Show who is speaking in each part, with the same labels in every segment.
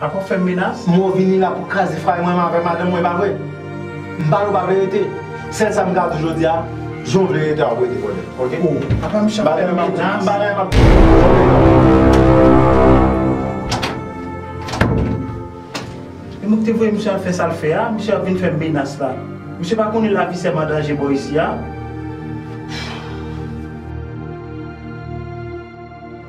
Speaker 1: La pap fèm menas. Mwen vini la pou kraze fay mwen avè madanm mwen epa vre? M pale w pa verite sèl sa m ka di w jodia jan w vle rete wap rete vòlè ok bagay yo map di bagay yo map di moun ki te voye misye al fè sal fè a misye ap vin fèm menas la misye pa konnen lavi sèm an danje bò isi a.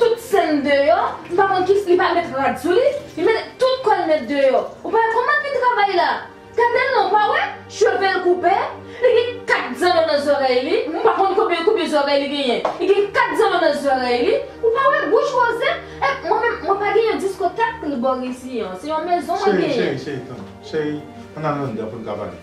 Speaker 2: Tout sèn deyò, m pa konn kif li pa met rad sou li, li mete tout kòl nèt deyò, ou pa wè kòman l fin travay la, gadel non ou pa wè cheve l koupe, li gen 4 zanno nan zòrèy li, m pa konn konbyen konbyen zòrèy li genyen, li gen 4 zanno nan zòrèy li, ou pa wè bouch woze, e mwen menm mwen pa gen yon diskotèk bò risi an, se yon mezon mwen genyen. Cheri cheri cheri tann, cheri
Speaker 1: ann al anndan pou n ka pale.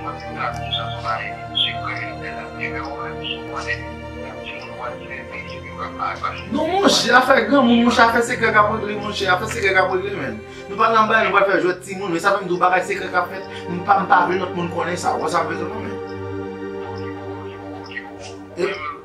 Speaker 3: Mwen te ka di sa son ayi se kwe li bel ap kenbe ou menm sou konnen yon ti moun pwal fèmen epi ou pral pale pase li. Non monche afè granmoun monche afè sekrè kap regle monche afè sekrè kap regle menn nou pral nan bal nou pral fè jwèt ti moun e sa fèm di w bagay sekrè kap fèt m pa m pa vle lot moun konnen sa ou wè sa m vle di w non men. Ou di gwo ou di gwo ou di gwo menm.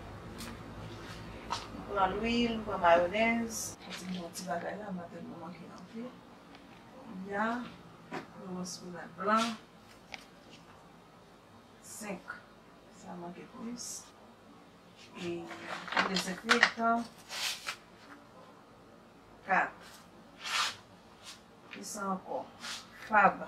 Speaker 4: M pran lwil, m pran mayonèz. Mwen di non ti bagay la mwen tèlman manke anvi. Kounya yon rospenad blan. 5. Sa manke plis. E yon dezenfektan. 4. Kisa ankò? Fab.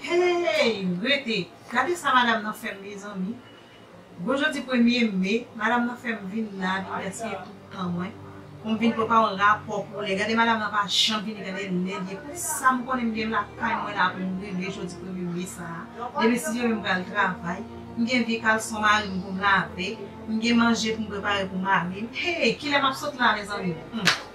Speaker 4: Hey! Rete! Gade sa madam nan fèm mezanmi. Bon jodi premye me, madam nan fèm vin la vin gaspiye tout tan mwen. Poum vin pran pa yon rapò pou lè. Gade madam nan pa janm vini gade lè liye pou sam konnen m gen lakay mwen la poum regle jodi premye me sa. Demen 6 heure m pral travay. M gen vye kalson marim poum lave. M gen manje poum prepare pou marim. Hey! Kilè map sot la mezanmi? Humm.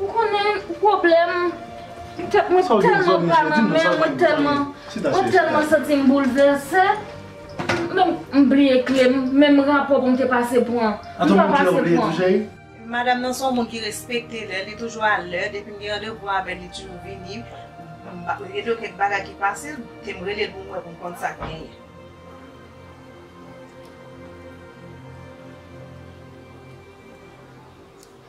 Speaker 2: Ou konnen pwoblèm tèt mwen tèlman pran nan men mwen tèlman mwen tèlman santi m boulvèse menm m bliye kle m menm rapò pou m te pase pran m pa pase pran. Madam
Speaker 4: nan son moun ki respekte lè li toujou a lè depi m gen randevou avèl li tuju vini m pa rete yo kèk bagay ki pase m te m relel pou m wè pou m konn sak genyen.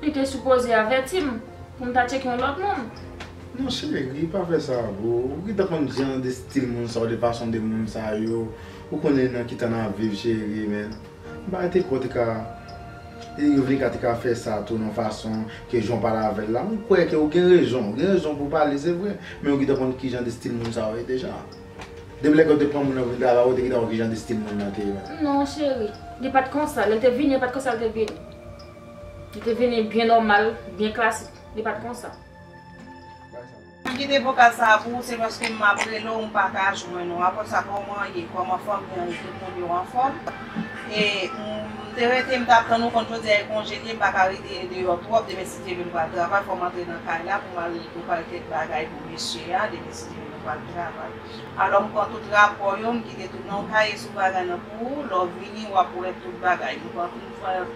Speaker 2: Li te sipoze avèti m pou m ta tcheke yon lòt moun. Non cheri
Speaker 3: pa fè sa boo ou gentan konn jan de stil moun sa yo de fason de moun sa yo ou konnen nan ki tan nap viv cheri men bagay te ko te ka e yo vle ka te ka fè sa tou nan fason ke jan w pale avèl la m kwè ke ou gen rezon ou gen rezon pou w pale se vre men ou gentan konn ki jan de stil moun sa yo ye deja depi lè ke w te pran moun nan pou vin travay ou te gentan wè ki jan de stil moun nan te ye. Non
Speaker 2: cheri li pat konsa lè l te vini li pat konsa l te vini. Li te vini byen nòmal, byen klasik.
Speaker 4: Li pa t konsa. M kite vokal sa a pou ou se paske m ap rele w m pa ka jwenn ou. Apre sa kòman w ye? Kòman fanmi an ye? Tout moun yo anfòm? E m te rete m t ap tann ou konn jodi a e konje liye m pa ka rete deyò twòp demen si Steven pral travay fò m antre nan kay la pou m al prepare kèk bagay pou mesye a demen si Steven pral travay. Alò m pran tout rapò yo m kite tout nan yon kaye sou bagay nan pou ou lè w vini w ap wè tout bagay. Mwen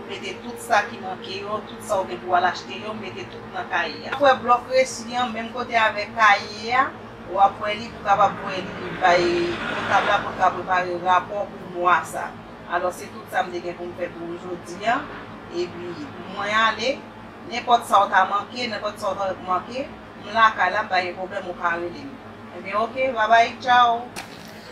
Speaker 4: mete tout sa ki manke yo, tout sa ou gen pou w al achte yo, m mete tout nan kaye a. Kwè blòk resi an menm kote avèk kaye a, w ap wè li pou w kapab wè li bay kontab la pou l ka prepare rapò pou mwa sa. Alò se tout sa m te gen pou m fè pou jodi a. Epi mwen ale, nenpòt sa ou ta manke, nenpòt sa ou ta manke, m lakay la, m pa gen pwoblèm ou ka rele m. Ebyen ok, babay, tchaw!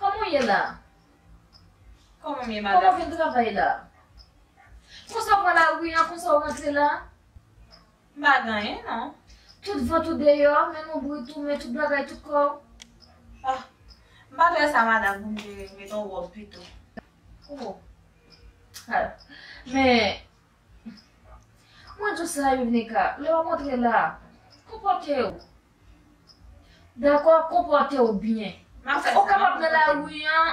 Speaker 2: Koman w ye la?
Speaker 4: Koman m ye madam? Koman vin
Speaker 2: travay la? Konsa w pran lari an, konsa w rantre la? M pa
Speaker 4: gen anyen non. Tout vant ou
Speaker 2: deyò, men nou brit ou, men tout bagay, tout kò w. Ah!
Speaker 4: M pa t wè sa madam pou m te met on wòb pito. Oh! Al!
Speaker 2: Men, Mwen tou sa Youvnika, lè wap antre la a, konpòtew. Dakò, konpòtew byen. Paske ou kapab nan lari an,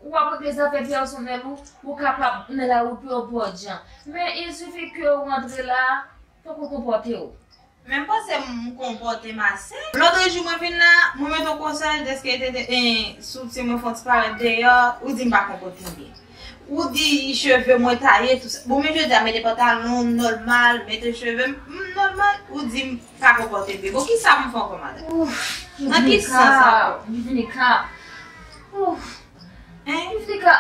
Speaker 2: wap regle zafè pèsonèl ou, ou kapab nan lari pou yon pòdjan. Men il sifi kew antre la a, fòk ou konpòtew. Menm panse
Speaker 4: m konpòte m ase. Lotre jou mwen vin la, mwen mete yon konsèy deske te te en sou ti mwen fon ti parèt deyò, ou di m pa konpòte m byen. Ou di cheve mwen taye tou sa. Bon men jodi a mete pantalon m nòmal, mete cheve m m nòmal, ou di m pa konpòte m byen. Bon kisa pou m fè ankò madan? Ouf! Nan ki sans ankò? Dominika!
Speaker 2: Ouf! Hein? Dominika!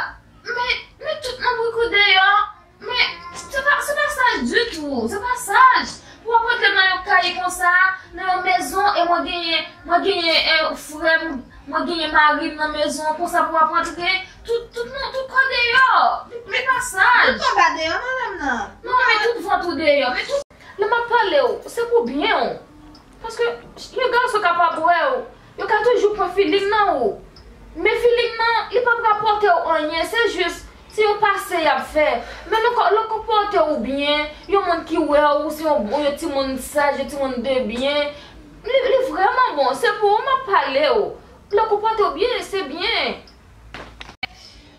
Speaker 2: Men, men tout moun pran kou deyò! Men, se pa, se pa saj ditou, se pa saj pou wap rantre nan yon kay konsa, nan yon mezon e mwen genyen, mwen genyen e frèm, mwen genyen marim nan mezon an konsa pou wap rantre tout, tout moun, tout kò deyò. Se pa saj. Tout kò pa deyò
Speaker 4: madam nan. Non, men tout vant
Speaker 2: ou deyò, men tout. Lè map palew, se pou byenw. Paske yon gason ka pa bwèw, Yo ka toujou pran feeling nan ou, men feeling nan li pap rapòte ou anyen, se jis se yon pase yap fè. Men nou ka, lè w konpòte ou byen, yon moun ki wè w ou se yon bon, yon timoun saj, yon timoun de byen, li li vrèman bon, se pou ou map pale ou. Lè w konpòte ou byen, se byen.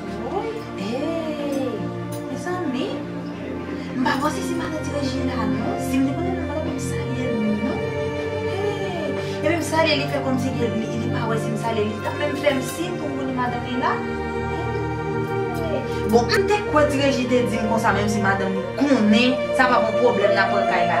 Speaker 4: Woy hey mezanmi m pa panse se maladi Regina non si m te konnen m ta pata menm salye l non hey epi m salye li fè kòmsi li pa wè si m salye l li tap menm fè m siy pou m konnen madanm
Speaker 5: li la hey bon m te kwè ti Regi te di m konsa menm si madanm li konnen sa pa bon pwoblèm nan pran kay la.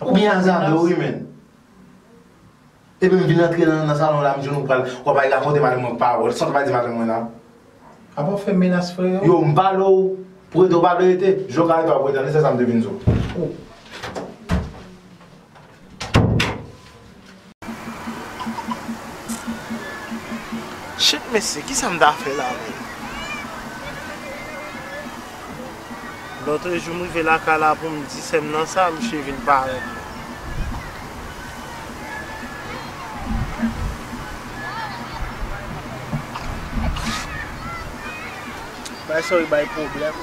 Speaker 1: Ou gen alzame wi menn. Epi m vin antre nan salon la m jwenn ou pral wap al rakonte madanm mwen pawòl sa w te pa di madanm mwen nan. Apa w fè menas freo. Yo m pale w pou rete w pale rete. Jan w ka rete w ap rete an li se sa m te vin di w.
Speaker 6: Shit mesye kisa m ta fè la menm. Lotrejou m rive lakay la pou m di sè m nan sa misye vin parèt mwen. Bagay sa yo bay pwoblèm.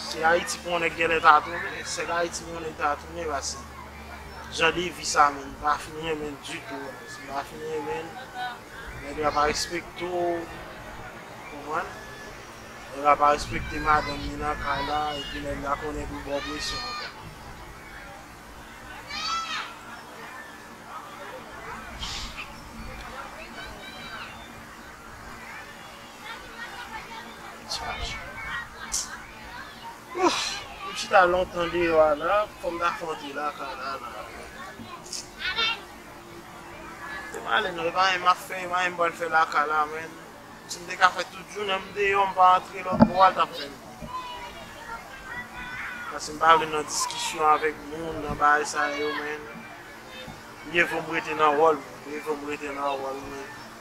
Speaker 6: Se Ayiti pou yon nèg genlè ta tounen, se Ayiti pou yon nèg ta tounen pase jan de vi sa menm pa fin renmen l ditou menm, si pa fin renmen l, nèg la pa respekte w, ou konprann, nèg la pa respekte madanm li nan kay la epi nèg la konnen pou l ba w presyon ankò. M chita lontan deyò a la, fò m ta fè yon ti lakay la la. Te m ale nan, e pa anyen m ap fè, e pa anyen m pral fè lakay la menm. Si m te ka fè tout jounen m deyò, m pa antre lòtbò a l t ap pi byen. Paske m pa vle nan diskisyon avèk moun, nan bagay sa yo menm. Mye vo m rete nan wòl mwen, mye vo m rete nan wòl mwen.